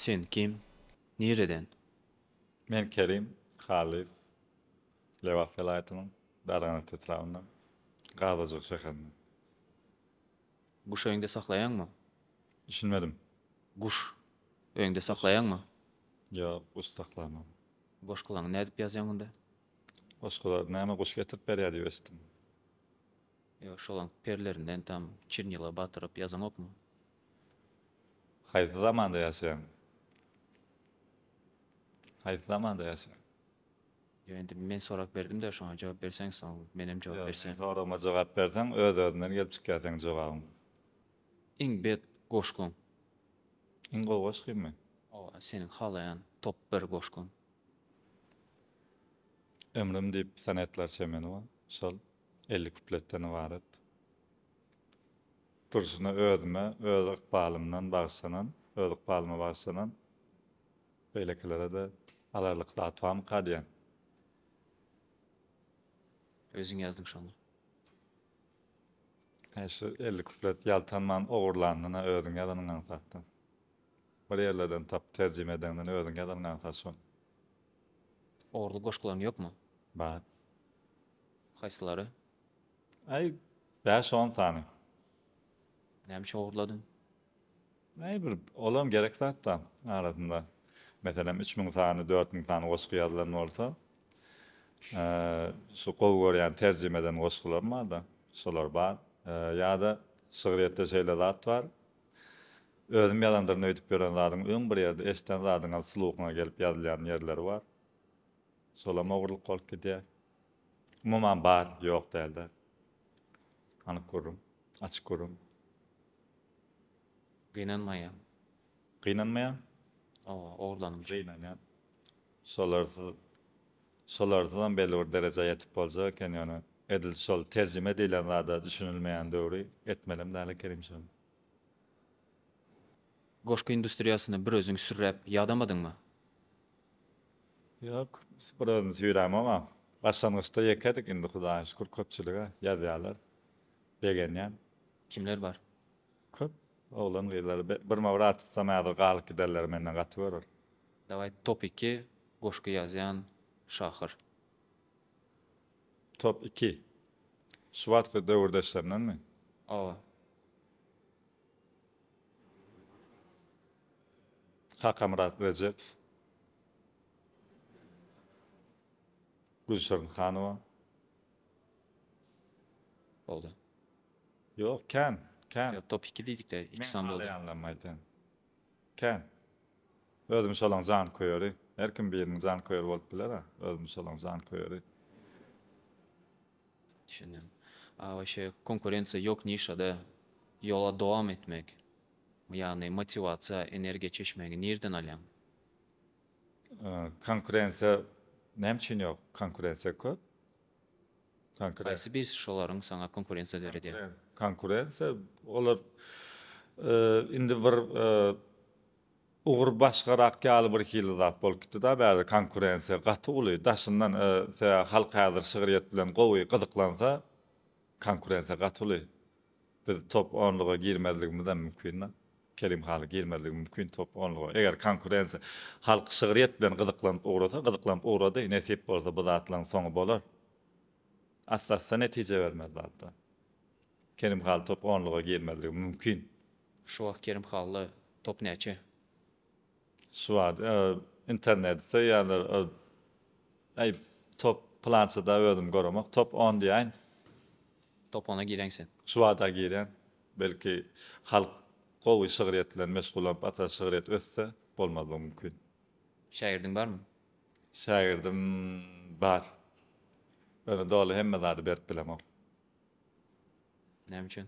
Sen kim? Nireden? Men Kerim Halyýew. Lebap welaýatynyň Darganat etrabyndan, Gazajyk şäherinden. Guş öýüňde saklaýaňmy? Düşünmedim. Guş öýüňde saklaýaňmy? Ýok, guş saklamam. Goşgulaňy nädip ýazýaň onda? Goşgulary näme guş getirip berýär diýip eşitdim. Ýok, şolaň perlerinden tam çirnila batyryp ýazaňokmy? Haýsy zamanda ýaşaýaň? Haýsy zamanda ýaşaýaň? Ýok indi men sorag berdimdä şoňa jogap berseň soň menem jogap Ýok men berseň. soragyma jogap berseň öz özünden gelip çykýar seň jogabyň. Iň bet goşgyň. Iň gowy goşgymy? Oba seniň halaýan top bir goşgyň. Ömrüm diýip sonetler çemenowa şol elli kupletden ybarat. Durşuna özüme öz ykbalymdan bagyşlanan öz ykbalyma bagyşlanan. Beýlekilere-de alarlyk zat barmyka diýen. Özüň ýazdyň şony. Heý şu elli kuplet ýaltanman ogurlandyna özüň ýazanyň aňsatdan. Bir ýerlerden tapyp terjime edeňden özüň ýazanyň aňsat şony. Ogurlyk goşgularyň ýokmy? Bar. Haýsylary? Aý, bäş-on sany. Näme üçin ogurladyň? Näme bir olam gerek zatda arasynda meselem üç müň sany, dört müň sany goşgy ýazylan bolsa, şu gowy görýän terjime eden goşgularym barda, şolar bar. Ýa-da şygryýetde şeýle zat bar, özüm ýazandyryn öýdüp ýören zadyň öň bir ýerde eşden zadyňam sluhyňa gelip ýazylýan ýerleri bar. Şolam ogurlyk bolup gidýär. Umuman bar, ýok däl-de. Anyk gürrüň, açyk gürrüň. Gynanmaýan. Gynanmaýan? Hawa, ogurlanym üçin. Gynanýan. Şolarsyz, şolarsyzam belli bir derejä ýetip boljak eken, ýöne edil şol terjime diýlen zada düşünilmeýän döwri etmelem däl ekenim şony. Goşgy industriýasyna bir özüň sürräp ýadamadyňmy? Ýok, bir özüm süýrämog-a. Başlangyçda ýekedik, indi Hudaýa şükür köpçülige ýazýarlar. Begenýän. Kimler bar? Köp oglan gyzlar birma bir at tutsam häzir galyp giderler menden gaty görür. Daway top iki goşgy ýazýan şahyr. Top iki. Şu wagtky döwürdeşlerindenmi? Hawa. Kakamyrat Rejep. Gülşirin Hanowa. Boldy. Ýok, kän, kän. Ýok, top iki diýdikde, iki sany boldy. Meň halaýanlarym aýdýan. Kän. Özüm şolaň janköýeri. Her kim biriniň janköýeri bolup biler-ä. Özüm şolaň janköýeri. Düşündim. A waşe konkurensiýa ýok nişada ýola dowam etmek, ýagny motiwasiýa, energiýa çeşmäňi nirden alýaň? Konkurensiýa näme üçin ýok? Konkurensiýa köp. Konkurensiýa. Haýsy bir şolaryň saňa konkurensiýa döredýär? Konkurensiýa, olar indi bir ugur başgarak ýaly bir hili zat bolup gitdi-da bärde konkurensiýa gaty uly. Daşyndan halk häzir şygryýet bilen gowy gyzyklansa konkurensiýa gaty uly. Biz top onluga girmezligimizem mümkin. Kerim haly girmezligi mümkin top onluga. Eger konkurensiýa halk şygryýet bilen gyzyklanyp ugrasa, gyzyklanyp ugrady, nesip bolsa bu zatlaryň soňy bolar. Asla-asla netije bermez zatlar. Kerim haly top onluga girmezligi mümkin. Şu wagt Kerim halyda top näçe? Şu wagt interneti söýýärler öz Eý top plançada özüm göremok top on diýäýin. Top ona gireň sen. Şu wagta girýän. Belki halk gowy şygryýet bilen meşgullanyp ata şygryýet össe bolmazlygy mümkin. Şägirdiň barmy? Şägirdim bar. Ýöne doly hemme zady berip bilemok. Näme üçin?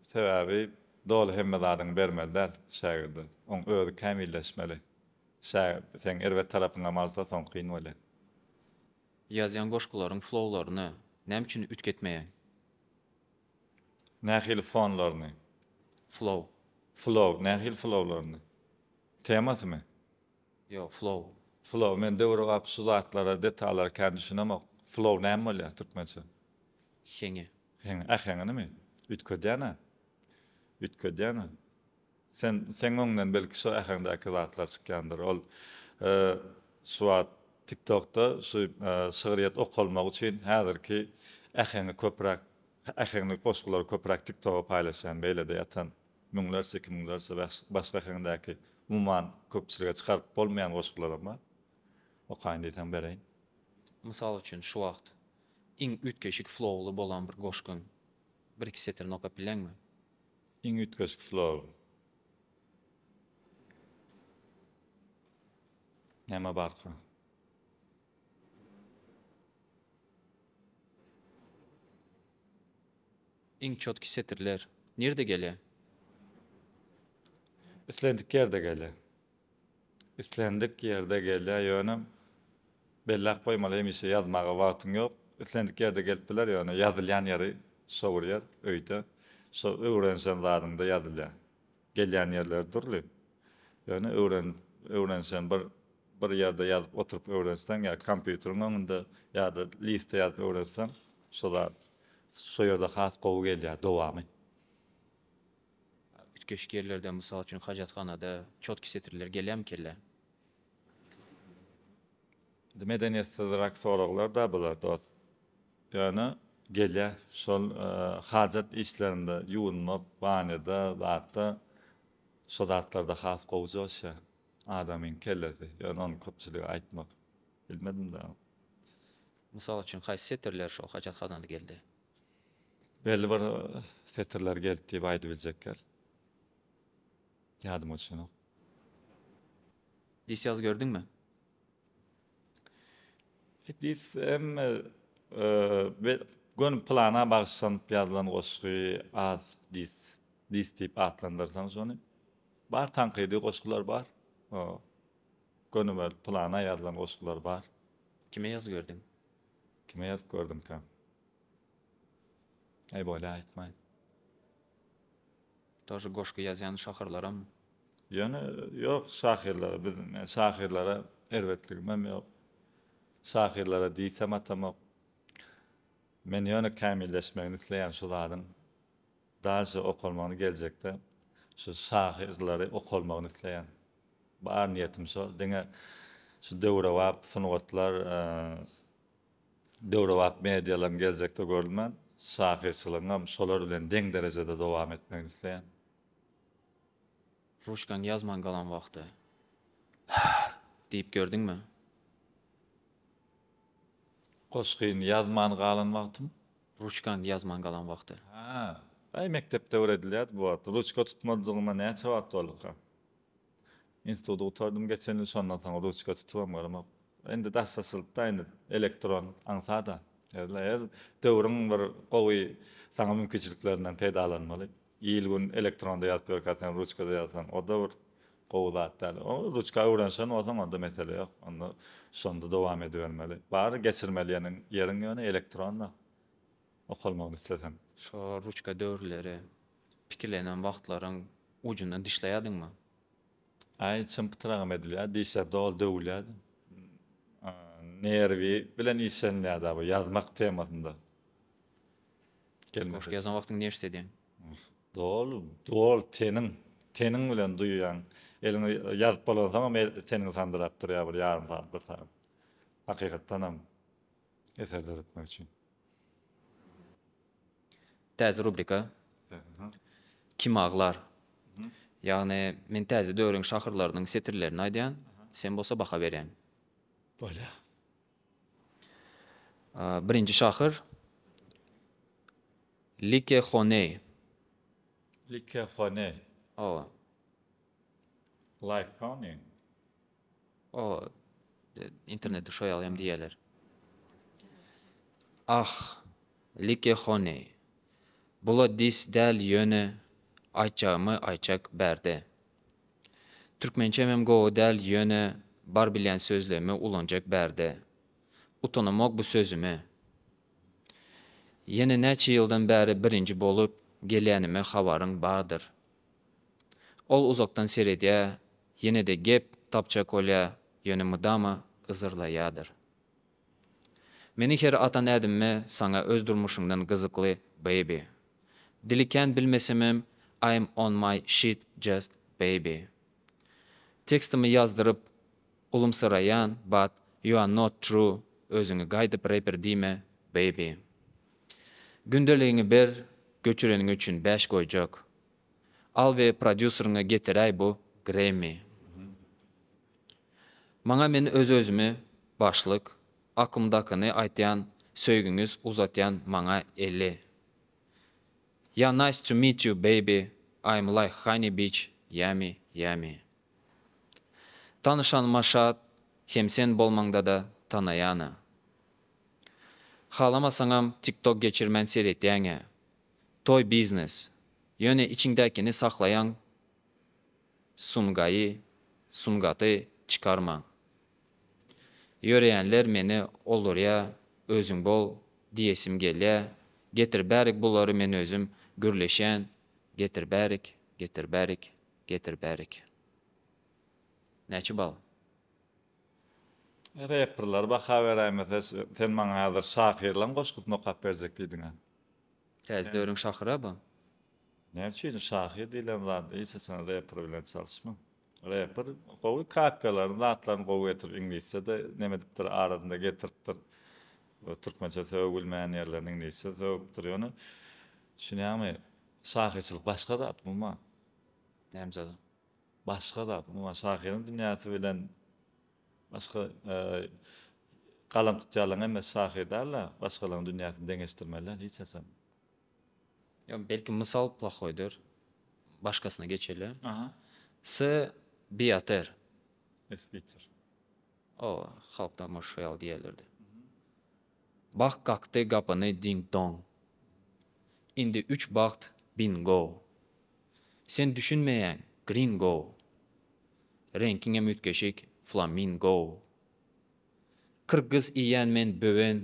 Sebäbi doly hemme zadyňy bermeli däl şägirde. Oň özi kämilleşmeli. Şä seň erbet tarapyňam alsa soň kyn bolýa. Ýazýan goşgularyň flowlaryny näme üçin üýtgetmeýäň? Nähili fonlaryny? Flow. Flow, nähili flowlaryny? Temasymy? Ýok flow. Flow men döwür gap şu zatlara detallara kän düşünemok. Flow näme bolýar türkmençe? Heňe. Heňe äheňinimi? Üýtgedýäna. Üýtgedýäna. Sen seň öňünden belki şo äheňdäki zatlar çykýandyr. Ol şu wagt tiktokda şu şygryýet okalmagy üçin häzirki äheňi köpräk äheňli goşgulary köpräk tiktoga paýlaşýan beýlede ýatan. Müňlerçe, iki müňlerçe başga heňdäki umuman köpçülige çykaryp bolmaýan goşgularam bar. Okaýyn diýseň bereýin. Mysal üçin şu wagt iň üýtgeşik flowly bolan bir goşgyň bir iki setirini okap bileňmi? Iň üýtgeşik flowly. Näme barka? Iň çotky setirler nirde gele? Islendik ýerde gele. Islendik ýerde gelýä ýöne belläp goýmaly hemişe ýazmaga wagtyň ýok. Islendik ýerde gelip biler ýöne ýazylýan ýeri şo bir ýer öýde şo öwrenişen zadyňda ýazylýa. Gelýän ýerleri dürli. Ýöne öwren, öwrenişen bir bir ýerde ýazyp oturyp öwrenseň ýa kompýuteriň öňünde ýa-da listde ýazyp öwrenseň şo zat şo ýerde has gowy gelýär dowamy. Üýtgeşik ýerlerde, mysal üçin, hajathanada çotki setirleri gelýärmi kellä? Medeniýetsizrak soraglar-da bular dost. Ýöne gelýä şol hajat işlerinde ýuwunmak, banýada, zatda şo zatlarda has gowy joşýa adamyň kellesi. Ýöne ony köpçülige aýtmak bilmedim dagyn. Mysal üçin haýsy setirler şo hajat hazaly geldi? Belli bir setirler geldi diýip aýdybiljekler. Ýadyma düşenok. Dis ýaz gördüňmi? Dis hemme göni plana bagyşlanyp ýazylan goşgy az dis. Dis diýip atlandyrsaň şony. Bar tankydy goşgular bar. Göni bir plana ýazylan goşgular bar. Kime ýaz gördüň? Kime ýazyp gördüňkäm? Aý bolýa aýtmaý. Tor goşgy ýazýan şahyrlaram. Ýöne ýok şahyrlara biz men şahyrlara erbetligimem ýok. Şahyrlara diýsem atamok. Men ýöne kämilleşmegini isleýän şu zadyň daşy okalmagyny geljekde şu şahyrlary okalmagyny isleýän. Bar niýetim şol. Diňe şu döwrebap sungatlar. Döwrebap medialaryň geljekde görülmän, şahyrçylygyňam şolar bilen deň derejede dowam etmegini isleýän. Ruçkaň ýazman galan wagty, Hah! diýip gördüňmi? Goşgyny ýazman galan wagtym. Ruçkaň ýazman galan wagty. Hä, aý mekdepde öwredilýärdi bu wagt. Ruçka tutmadygyma näçe wagt bolduka? Instituty gutardym geçen ýyl, şondan soň ruçka tutubam göremok. Indi daşlaşylypda, indi elektron aňsat-a. Her döwrüň bir gowy saňa mümkinçiliklerinden peýdalanmaly. Il-gün elektronda ýazyp ýörkä sen ruçkada ýazsaň, o-da bir gowy zat däl. O ruçka öwrenişen bolsaň, onda mesele ýok. Onda şonda dowam edibermeli. Bary geçirmeli ýeriň ýeriň ýöne elektronda. okalmagyny islesem. Şo ruçka döwürleri pikilenen wagtlaryň ujundan dişleýädiňmi? Aý çym pytragam edilýär, dişler doly döwülýär. Nerwi bilen işlenilýär-dä bu ýazmak temasynda. Goşgy ýazan wagtyň neşt edýäň? Doly, doly teniň, teniň bilen duýýaň. Eliňi ýazyp bolansoňam teniň sandyrap durýar bir ýarym sagat, bir sagat. Hakykatdanam Eser döretmek üçin. Täze rubrika. Kim aglar? Ýagny, men täze döwrüň şahyrlarynyň setirlerini aýdýan, sen bolsa baha berýäň. Bolýa. Birinji şahyr, Like Honey. Like Honey. Hawa. Like Honey. O internetde şo ýaly hem diýýärler. Ah, like hone. Bula dis däl ýöne aýtjagymy aýtjak bärde. Türkmençem hem gowy däl ýöne bar bilýän sözlemi ulanjak bärde. Utanamok bu sözüme. Ýene näçe ýyldan bäri birinji bolup gelýänime habaryň bardyr. Ol uzakdan seredýär, ýene-de gep tapjak bolýar, ýöne mydama yzarlaýardyr. Meni her atan ädimime saňa öz durmuşyňdan gyzykly, baby. Dili kän bilmesemem, I'm on my shit just, baby. Tekstimi ýazdyryp, ulumsyraýan, but you're not true, özüňi gaýdyp reper diýme, baby. Gündeligiňi ber göçüreniň üçin bäş goýjak. Al we prodýuseriňe getiräý bu Grammy. Maňa men öz özümi başlyk, aklymdakyny aýtýan söýgiňiz uzatýan maňa eli. Ýa nice to meet you baby I'm like honey bitch yummy yummy. Tanyşanyma şat hem sen bolmaňdada tanaýana. Halamasaňam tiktok geçirmän seretýäňä. Toý biznes. Ýöne içiňdäkini saklaýaň Sungaýy, sungaty çykarmaň. Ýöreýänler meni oldurýa özüň bol diýesim gelýä getir bärik bulary men özüm gürleşýän getir bärik getir bärik getir bärik. Näçe bal. Reperler baha beräýmese sen maňa häzir şahyrlaň goşgusyny okap berjek diýdiňä. Täze döwrüň şahyra bu. Näme üçin şahyr diýlen zat hiç haçan reper bilen çalyşman. Reper gowy kapiýalaryny zatlaryny gowy getirip iňlisçede neme edipdir arasynda getiripdir. Türkmençe sögülmeýän ýerlerini iňlisçe sögüpdir ýöne düşünýäňmi şahyrçylyk başga zat bu ma. Näme zada. Başga zat, umuman, şahyryň dünýäsi bilen başga galam tutýanlaryň hemmesi şahyr däl-de, başgalaryň dünýäsini deňeşdirmeli hiç haçan. Ýa belki mysal plahoýdyr. Başgasyna geçeli. Aha. S. Biater. S. Biater. O, halkda muş şo ýaly diýerlerdi. Bagt kakdy gapyny ding-dong. Indi üç bagt bingo. Sen düşünmeýäň, gringo. Reňkiňem üýtgeşik, flamingo. Kyrgyz iýýän men böwen,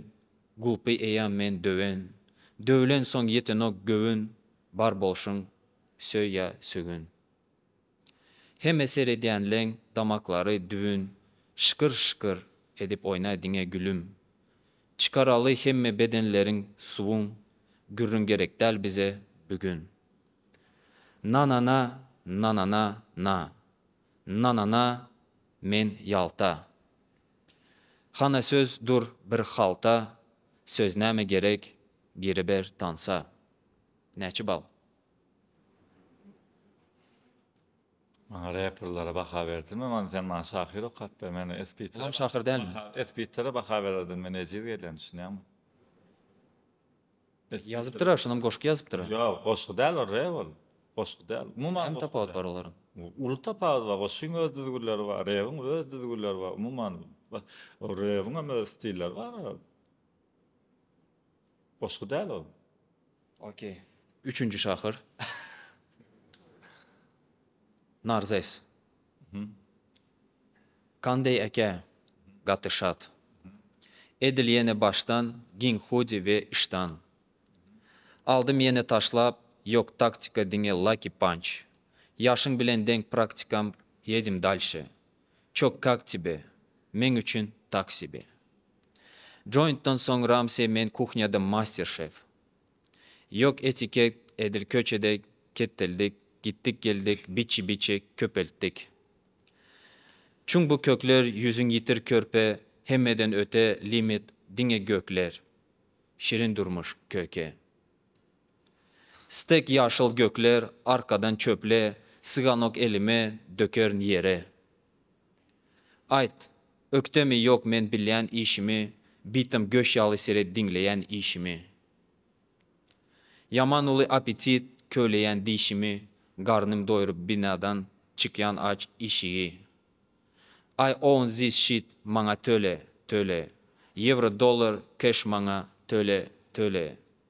gulpy eýam men döwen, döwlensoň ýetenok göwün, bar bolşuň, söý ýa sögün. Heme seredýänleň damaklary düwün şykyr şykyr edip oýnaý diňe gülüm çykaraly hemme bedenleriň suwuň gürrüň gerekdäl bize bigün Nanana nanana na Nanana men ýalta Hana söz dur bir halta söz näme gerek giriber tansa Näçe bal. Maňa reperlere baha berdinmi man sen maňa şahyr okap ber men espiter. Olam şahyr dälmi. Espitere baha bererdim men ejiz gelýän düşünýäňmi. Ýazypdyra şonam goşgy ýazypdyra. Ýok goşgy däl ol rep ol. Goşgy däl. Umuman. Näme tapawut bar olaryň. Uly tapawut bar goşgyň öz düzgünleri bar rebiň öz düzgünleri bar umuman ol rebiňem öz stilleri bar ol. Goşgy däl ol. Ok. Üçünji şahyr. Narzes. Kandeý eke, gaty şat. Edil ýene başdan, giň hudi we işdan. Aldym ýene taşlap, ýok taktika diňe lucky punch. Ýaşyň bilen deň praktikam, ýedim dalşy. Çok kak tebe, meň üçin tak sebe. Jointdan soň Ramsey men kuhnýada master şef. Ýok etiket edil köçede ketdildik, gitdik geldik biçi biçi köpeltdik. Çuň bu kökler ýüzün ýitir körpe hemmeden öte limit diňe gökler. Şirin durmuş köke. Stek ýaşyl gökler arkadan çöple syganok elime dökerin ýere Aýt ökdemi ýok men bilýän işimi bitim göş ýaly seret diňleýän işimi Ýaman uly apetit köleýän dişimi garnym doýrup binadan çykýan aç işigi I own this shit maňa töle töle ýewro dollar keş maňa töle töle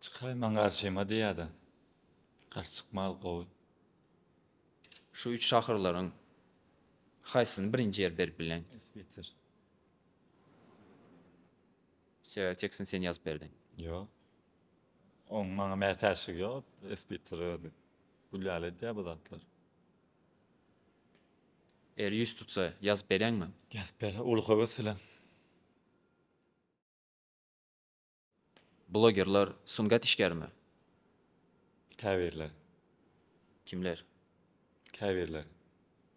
Çykaýman garşyma diýýädä. Garşy çykmal gowy. Şu üç şahyrlaryň haýsyny birinji ýer berip bileň? Esbitir. Sebäbi tekstini sen ýazyp berdiň. Ýok. Oň maňa mätäçligi ýok. Esbitir özi. Gül ýaly edýär bu zatlary. Eger ýüz tutsa ýazyp bereňmi? Ýazyp berer. Uly höwes bilen. Blogerler sungat işgärimi? Käbirler. Kimler? Käbirler.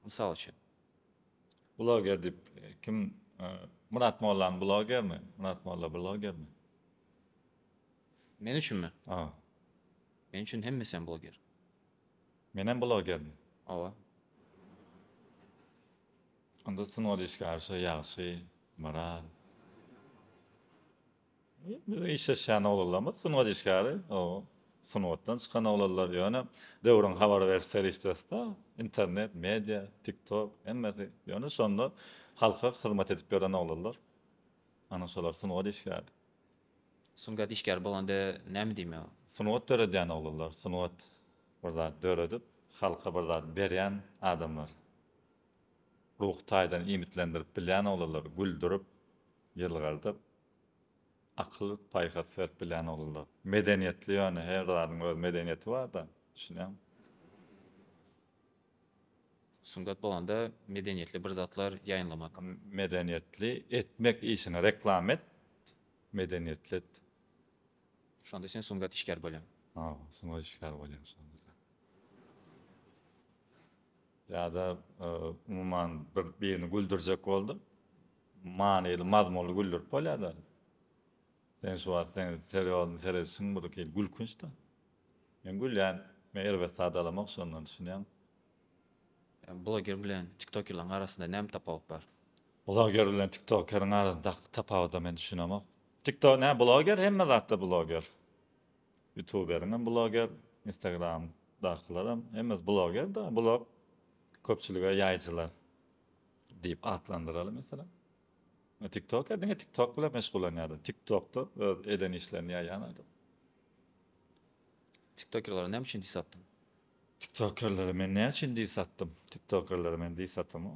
Mysal üçin. Bloger diýip kim Myrat Mollany blogermi? Myrat Molla blogermi? Men üçinmi? Hawa. Men üçin hemmesem bloger. Menem blogermi? Hawa. Onda sungat işgärşa ýagşy barar. Biziň işleşýän oglanlarymyz sungat işgäri, o sungatdan çykan oglanlar, ýöne döwrüň habar beriş serişdesi-de internet, media, tiktok, hemmesi, ýöne şonda halka hyzmat edip ýören oglanlar, ana şolar sungat işgäri. Sungat işgäri bolanda näme diýmek? Sungat döredýän oglanlar, sungat bir zat döredip, halka bir zat berýän adamlar. Ruhy taýdan iýmitlendirip bilýän oglanlar, güldürip, ýylgyrdyp, akyl-paýhas berip bilýän oglanlar. Medeniýetli ýöne, her zadyň öz medeniýeti bar-da, düşünýäňmi? Sungat bolanda medeniýetli bir zatlar ýaýynlamak. Medeniýetli etmek işini reklama et, medeniýetli et. Şonda sen sungat işgäri bolýaň. Hawa, sungat işgäri bolýaň şonda sen. Ýa-da, umuman, bir birini güldürjek bolduň. Manyly, mazmunly güldürip bolýar-da. Sen şu wagt seň seriýozny seredişiň birhili gülkünç-de. Men gülýän, meni erbet zat alamok şondan, düşünýäňmi? Bloger bilen tiktokerleriň arasynda näme tapawut bar? Bloger bilen tiktokeriň arasyndaky tapawuda men düşünemok. Tikto, nä, bloger, hemme zatda bloger. Ýutuberiň hem bloger, instagramdakylar hem hemmesi bloger-da, blog köpçülige ýaýyjylar diýip atlandyraly meselem. Tiktoker diňe tiktok bilen meşgullanýar-da, tiktokda öz eden işlerini ýaýýan adam. Tiktokerlere näme üçin dis atdyň? Tiktokerlere men näme üçin dis atdym? Tiktokerlere men dis atamok.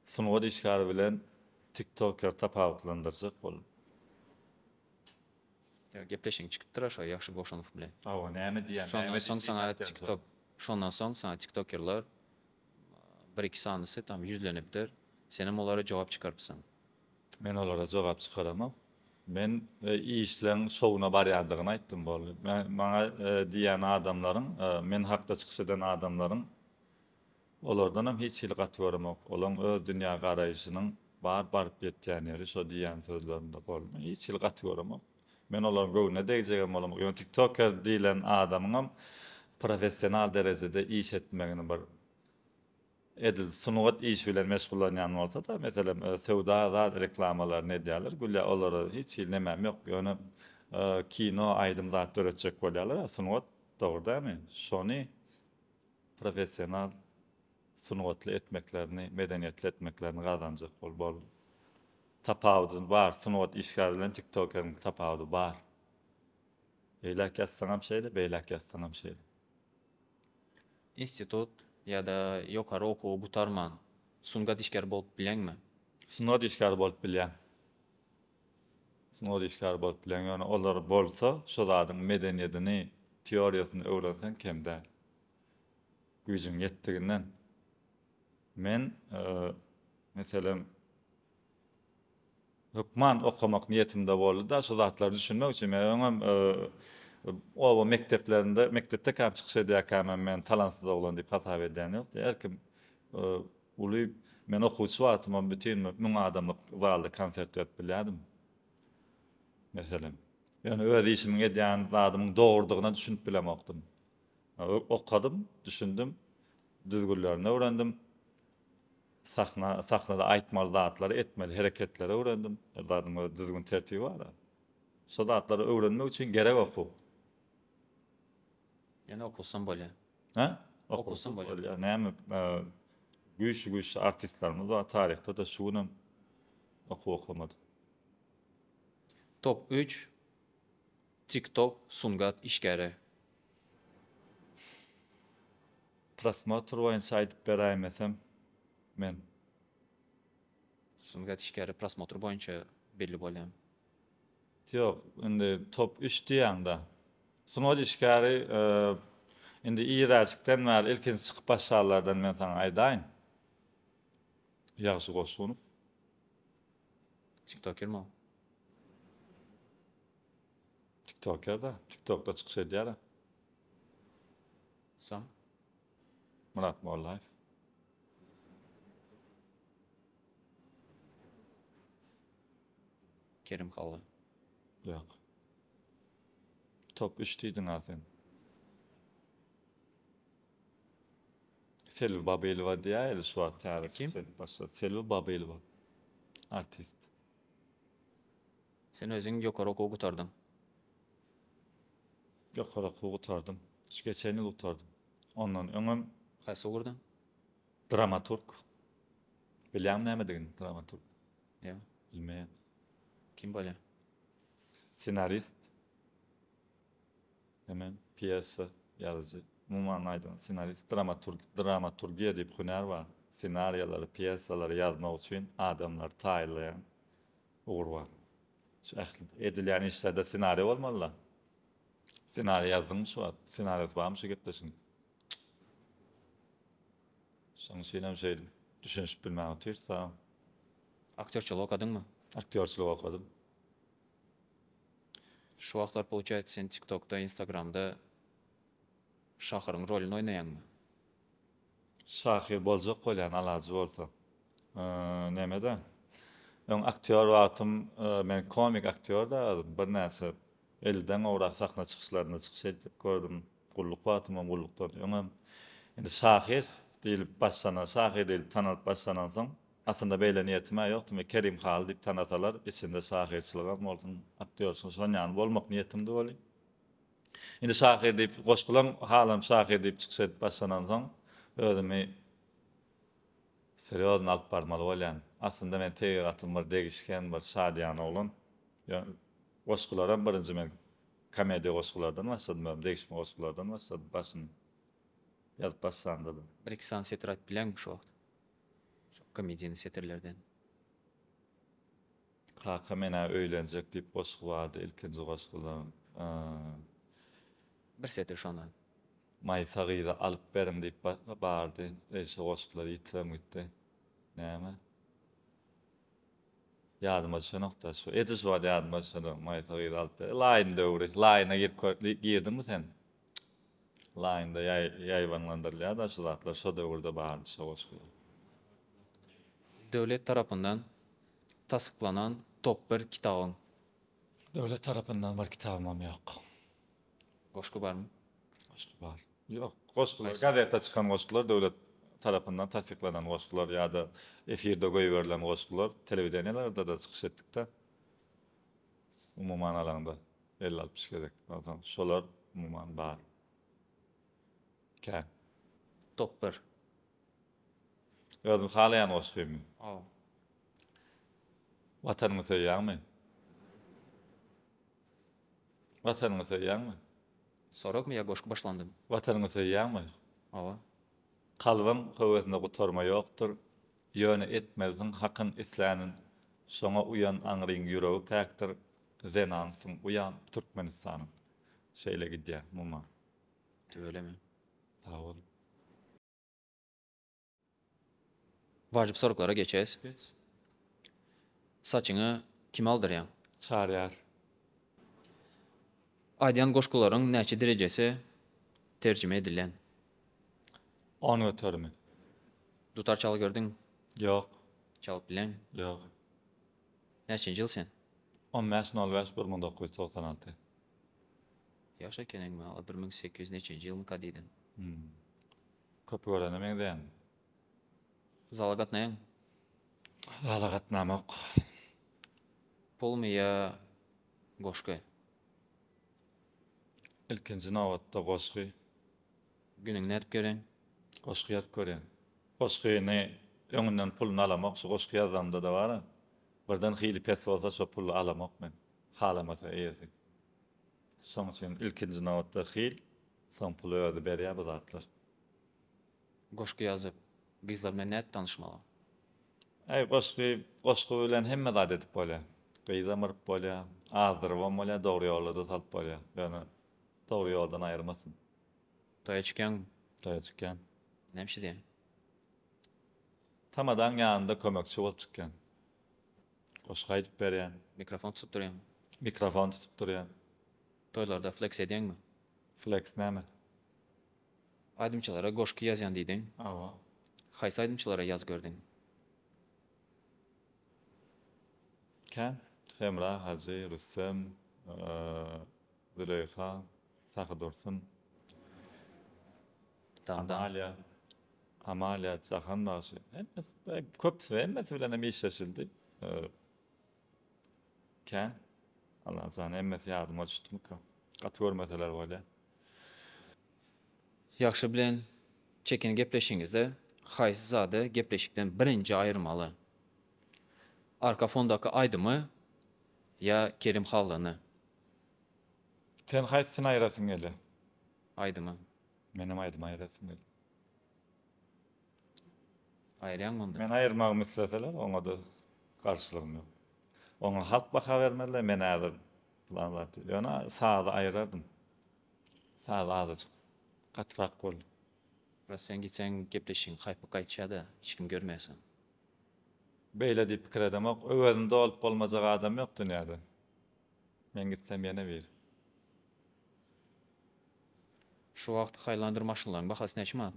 Sungat işgäri bilen tiktoker tapawutlandyrjak bolup. Ýa gepleşigiň çykypdyra şo Ýagşy Goşunow bilen. Hawa näme diýýär näme diýip diňläp ýazýar. Şondan soň saňa tiktokerler bir iki sanysy tam ýüzlenipdir. Senem olara jogap çykarypsyň. Men olara jogap çykaramok. Men işleň şowuna barýandygyny aýtdym boldy. Maňa diýýän adamlaryň men hakda çykyş eden adamlaryň Olardanam hiç hili gaty göremok. Olaň öz dünýä garaýşynyň bar baryp ýetýän ýeri şo diýýän sözlerinde boldy. Hiç hili gaty göremok. Men olaryň göwnüne degjegem bolamok. Ýöne tiktoker diýlen adamyňam professional derejede iş etmegini bir edil sungat işi bilen meşgullanýan bolsada meselem söwda zat reklamalaryny edýäler gülýä olara hiç hili nemem ýok ýöne kino aýdym zat döretjek bolýalar a sungat dogry dämi şony professional, sungatly etmeklerini, medeniýetli etmeklerini gazanjak bol bol. Tapawudy bar, sungat işgäri bilen tiktokeriň tapawudy bar. Beýläk ýazsaňam şeýle, beýläk ýazsaňam şeýle. Institut ýa-da ýokary okuwy gutarman sungat işgäri bolup bileňmi? Sungat işgäri bolup bilýäň. Synag işgäri bolup bilen, ýöne olar bolsa şo zadyň medeniýedini, teoriýasyny öwrenseň kem däl. Güýjüň ýetdiginden. Men, meselem, hökman okamak niýetimde boldy-da, şo zatlary düşünmek üçin. Men öňem oba mekdeplerinde, mekdepdekäm çykyş edýärkämem men talansyz oglan diýip hasap edýän ýokdy. Her kim Uly, men okuwçy wagtymam bütin bir müň adamlyk zalda konsert berip bilýärdim. Meselem. Ýöne öz işimiň edýän zadymyň dogrudygyna düşünip bilemokdym. Okadym, düşündim, düzgünlerini öwrendim. Sahna, sahnada aýtmaly zatlary, etmeli hereketleri öwrendim. Her zadyň öz düzgün-tertibi bar-a. Şo zatlary öwrenmek üçin gerek okuw. Ýene okusam bolýar. Hä? Okusam bolýar. Näme güýçli güýçli artistlerimiz bar taryhda da şu günem okuw okamady. Top üç tik tok sungat işgäri. Prosmotr boýunça aýdyp beräýmesem men. Sungat işgäri prosmotr boýunça belli bolýan. Ýok, indi top üç diýýäň-dä. Sungat işgäri, Indi iräjikden bäri ilkinji çykyp başlanlardan men saňa aýdaýyn. Ýagşy Goşunow. Tiktoker mi ol? Tiktoker-dä, tiktokda çykyş edýär-ä. Soň? Myrat Mollaýew. Kerim Halla. Ýok. Top üç diýdiňa sen. Selbi Babyýelowa diýýär eli şu wagt täze çykyş edip başlady. Selbi Babyýelowa. Artist. Sen özüň ýokary okuw gutardyň. Ýokary okuw gutardym. Şu geçen ýyl gutardym. Ondan öňem. Haýsy ugurdan? Dramaturg. Bilýäňmi nämedigini dramaturg? Ýok. Bilmeýän. Kim bolýar? Ssenarist. Hemen pýesa ýazyjy. Umuman aýdanda ssenarist, dramaturg. Dramaturgiýa diýip hünär bar. Ssenariýalary, pýesalary ýazmak üçin adamlary taýynlaýan ugur bar. Şu ähli edilýän işlerde ssenariý bolmalyda. Ssenariý ýazdyňmy şu wagt? Ssenariýasy barmy şu gepleşigiň? Şoň üçinem şeýle düşünişip bilmän otyrys a. Aktýorçylyk okadyňmy? Aktýorçylyk okadym. Şu wagtlar pouçaýsa sen TikTokda, Instagramda Şahyryň rolyny oýnaýaňmy? Şahyr boljak bolýan alajy bolsa. Nämede? Öň aktýor wagtym men komik aktýorda özüm birnäçe ellidan gowrak sahna çykyşlarynda çykyş edip gördüm. Gulluk wagtymam, gullukdan öňem. Indi şahyr diýlip başlanan, şahyr diýlip tanalyp başlanansoň, aslynda beýle niýetim-ä ýokdy. Men Kerim Haly diýip tanasalar, içinde şahyrçylygam bolsun, aktýorçy şonýany bolmak niýetimdi welin, Indi şahyr diýip goşgulam halam şahyr diýip çykyş edip başlanansoň özümi serýozny alyp barmaly bolýan. Aslynda men tebigatym bir degişgen bir şadyýan oglan. Goşgularam birinji men komediýa goşgulardan başladym özüm degişme goşgulardan başladym başyny ýazyp başlandadym. Bir iki sany setir aýdyp bileňmi şu wagt? Şu komediýny setirlerden. Kaka menä öýlenjek diýip goşgy bardy ilkinji goşguda yyy. Bir setir şondan. Maýsa gyza alyp beriň diýip bardy eý şo goşgular ýitirem gitdi näme ýadyma düşenokda şu eje şu wagt ýadyma düşenok maýsa gyza alyp beriň laýyn döwri laýyna girip girdiňmi sen. Line-da ýaýbaňlandyrylýar-da şu zatlar, şo döwürde bardy şo goşgular. Döwlet tarapyndan tassyklanan top bir kitabyň? Döwlet tarapyndan bir kitabymam ýok. Goşgy barmy? Goşgy bar. Ýok, goşgular, gazeta çykan goşgular, döwlet tarapyndan tassyklanan goşgular ýa-da efirde goýberilen goşgular, telewideniýelerde-de çykyş etdik-de. Umuman alaňda elli altmyş gezek bolsaň şolar umuman bar. Kän. Top bir. Özüň halaýan goşgymy? Hawa. Watanyňy söýýäňmi? Watanyňy söýýäňmi? Soragmy ýa goşgy başlandymy? Watanyňy söýýäňmi? Hawa. Kalbyň höwesinde gutarma ýokdur, ýöne etmelisiň Hakyň islänin, şoňa uýan aňryň ýüregi päkdir, zenansyň uýam Türkmenistanyň. Şeýle gidýä muma. Tüweleme. Sag bol. Wajyp soraglara geçes. Geç. Saçyňy kime aldyrýaň? Çarýar. Aýdýan goşgularyň näçe derejesi terjime edilen? On göterimi. Dutar çalyp gördüňmi? Ýok. Çalyp bileňmi? Ýok. Näçenji ýyl sen? On bäş nol bäş bir müň dokuz ýüz togsan alty. Ýaş ekeniň wala bir müň sekiz ýüz neçenji ýylmyka diýdim. Hum. Köpi görene meňzeýäň. Zala gatnaýaň. Zala gatnamok. Pulmy ýa goşgy. Ilkinji nobatda goşgy. Günüňi nädip görýäň. Goşgy ýazyp görýän. Goşgyny öňünden puluny alamok şu goşgy ýazamdada bara birden hili pes bolsa şo puly alamok men halamasa eýesi. Şoň üçin ilkinji nobatda hil soň puly özi berýä bu zatlar. Goşgy ýazyp, gyzlar bilen nädip tanyşmaly? Aý, goşgy, goşgy bilen hemme zat edip bolýar. Gyzam yryp bolýar, azdyrybam bolýar, dogry ýola-da salyp bolýar. Ýöne dogry ýoldan aýyrmasyn. Toýa çykýaňmy? Toýa çykýan. Näme iş edýäň? Tamadaň ýanynda kömekçi bolup çykýan. Goşgy aýdyp berýän. Mikrofon tutup durýaňmy? Mikrofon tutup durýan. Toýlarda fleks edýäňmi? Fleks näme? Aýdymçylara goşgy ýazýan diýdiň. Hawa. Haýsy aýdymçylara ýazyp gördiň? Kän. Hemra hajy, Rüstem, Züleýha, Sahydursun, Amalia, Amalia, Jahan bagşy. Köpüsi, hemmesi bilenem işleşildi. Kän. Allajan hemmesi ýadyma düşdümika. Gaty görmeseler bolýa. Ýagşy bilen Çekini gepleşiňizde haýsy zady gepleşikden birinji aýyrmaly? Arka fondaky aýdymy ýa Kerim Hallyny? Sen haýsyny aýyrasyň gelýär? Aýdymy. Menem aýdymy aýyrasym gelýär. Aýyrýaňmy onda? Men aýyrmagymy isleseler, oňa-da garşylygym ýok. Oňa halk baha bermeli, men häzir pylan zat diýip. Ýöne sazy aýyrardym. Saz azajyk gatyrak boldy. Biraz sen gitseň gepleşigiň haýpy gaýtýa-da, hiç kim görmeýärsoň. Beýle diýip pikir edemok. Öwezini dolup bolmajak adam ýok dünýäde. Men gitsem ýene biri. Şu wagt Highlander maşynlaryň bahasy näçe manat?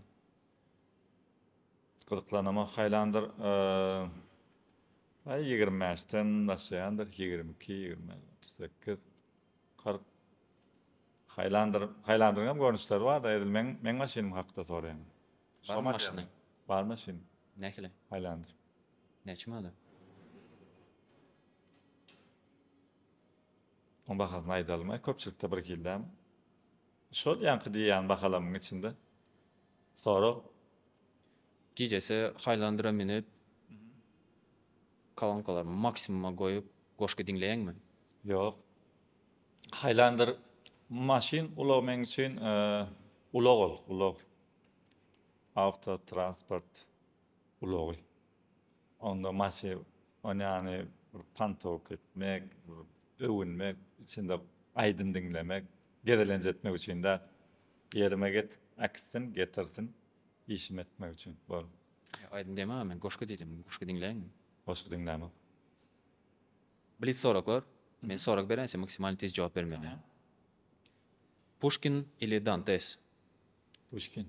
Gyzyklanama haýlandyr Aý ýigrimi bäşden başlaýandyr ýigrimi iki ýigrimi bäş otuz sekiz kyrk haýlandyr haýlandyryň hem görnüşleri barda edil meň meň maşynym hakda soraýaň Barmy maşynyň? Bar maşyn. Nähili? Haýlandyr. Näçe manada? Oň bahasyny aýdalyma köpçülikde birhildämi? Şol ýaňky diýýän bahalamyň içinde sorag. Gijesi haýlandyra münüp, kolonkalary maksimuma goýup goşgy diňleýäňmi? Ýok. Haýlandyr maşyn ulag meň üçin ulag ol, ulag. Awtotransport. ulagy. Onda maşy onýany bir pantok etmek, öwünmek, içinde aýdym diňlemek, gezelenç etmek üçin däl. Ýerime getik äkitsin, getirsin, işimi etmek üçin. Bol. Aýdym diýemogam men, goşgy diýdim. Goşgy diňläýinmi? Goşgy diňlämok. Blitz soraglar. Men sorag berençä maksimalny tiz jogap bermeli. Puşkin ili Dantes? Puşkin.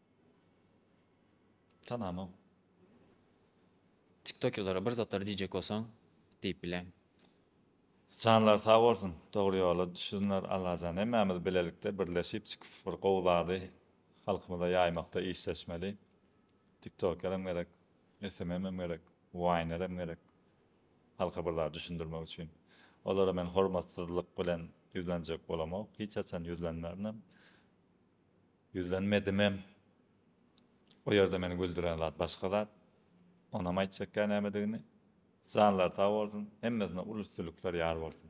Tanamok. Tiktokerlere bir zatlar diýjek bolsaň diýip bileň. Janlary sag bolsun dogry ýola düşsünler Allajan hemmämiz bilelikde birleşip çykyp bir gowy zady halkymyza ýaýmakda işleşmeli tiktokerem gerek SMMem gerek Waynerem gerek halka bir zat düşündirmek üçin olara men hormatsyzlyk bilen ýüzlenjek bolamok hiç haçan ýüzlenmerinem. Ýüzlenmedimem. O ýerde meni güldüren zat başga zat. Onam aýtjakka nämedigini. Janlary sag bolsun, hemmesine uly üstünlikler ýar bolsun.